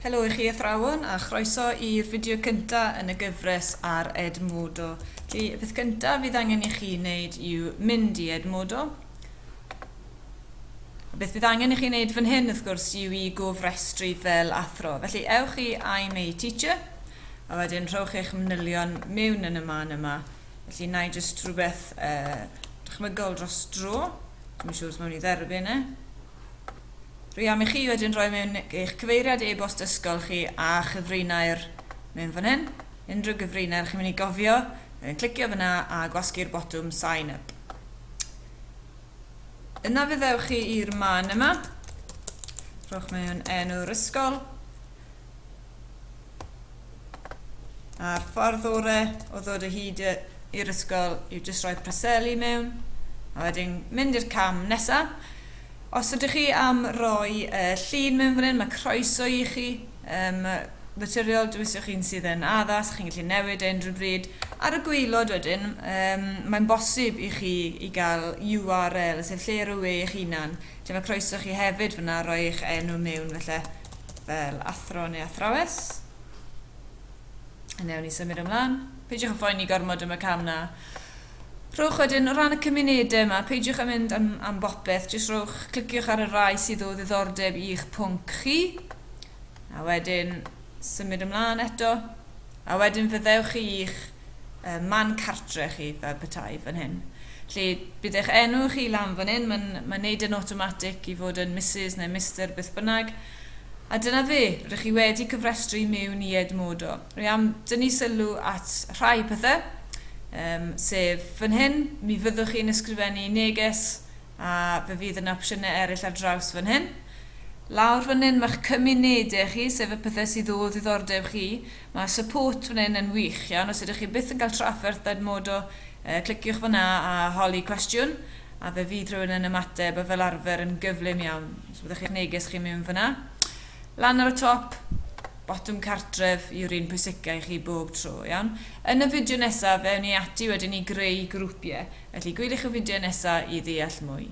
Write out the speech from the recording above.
Helo i chi athrawon a chroeso i'r fideo cynta yn y gyfres ar Edmodo. Felly, y peth cynta fydd angen i chi wneud yw mynd i Edmodo. A beth bydd angen i chi wneud fan hyn, wrth gwrs, yw i gofrestru fel athro. Felly, ewch i I'm a Teacher, a wedyn rhowch eich manylion mewn yn y man yma. Felly, na i jyst rhywbeth uh, dychmygol dros dro. Dwi'n siŵr os mewn i dderbyn e. Rhiam i chi wedyn roi mewn eich cyfeiriad e-bost ysgol chi a chyfrinair mewn fan hyn. Unrhyw gyfrinair chi'n mynd i gofio, wedyn clicio fyna a gwasgu'r botwm sign up. Yna fe ddewch chi i'r man yma, rhowch mewn enw'r ysgol, a'r ffordd ore o ddod o hyd i'r ysgol yw jyst rhoi preseli mewn a wedyn mynd i'r cam nesa os ydych chi am roi yy llun mewn fan hyn mae croeso i chi yym naturiol dywyswch chi'n sydd yn addas chi'n gallu newid e unrhyw bryd ar y gwaelod wedyn yym mae'n bosib i chi i gael URL sef lle ar y we eich hunan Dyma croeso chi hefyd fyna, rhoi eich enw mewn felly fel athro neu athrawes. Yn ewn ni symud ymlaen. Peidiwch yn phoeni gormod am y cam na. Rhowch wedyn, o ran y cymunedau yma, peidiwch yn mynd am, am bopeth, jyst rhowch, cliciwch ar y rai sydd o ddiddordeb i'ch pwnc chi, a wedyn symud ymlaen eto, a wedyn fyddewch chi i'ch yy man cartre chi fel petai fan hyn. Felly bydd eich enw chi lan fan hyn, mae'n mae'n neud yn awtomatig i fod yn Misus neu Mister beth bynnag. A dyna fe, rydych chi wedi cyfrestru i mewn i Edmodo. Rwy am dynnu sylw at rhai pethau, um, sef fan hyn, mi fyddwch chi'n ysgrifennu neges a fe fydd yna opsiynau eraill ar draws fan hyn. Lawr fan hyn mae'ch cymunedau chi, sef y pethau sydd o ddiddordeb chi. Mae support fan hyn yn wych iawn, os ydych chi byth yn cael trafferth Ed Modo, cliciwch fan'na a holi cwestiwn, a fe fydd rhywun yn ymateb, a fel arfer yn gyflym iawn. Os byddech chi'n neges chi'n mynd fan'na. Lan ar y top, botwm cartref yw'r un pwysica i chi bob tro, iawn? Yn y fideo nesaf, fe ewn ni ati wedyn i greu grwpiau, felly gwyliwch y fideo nesaf i ddeall mwy.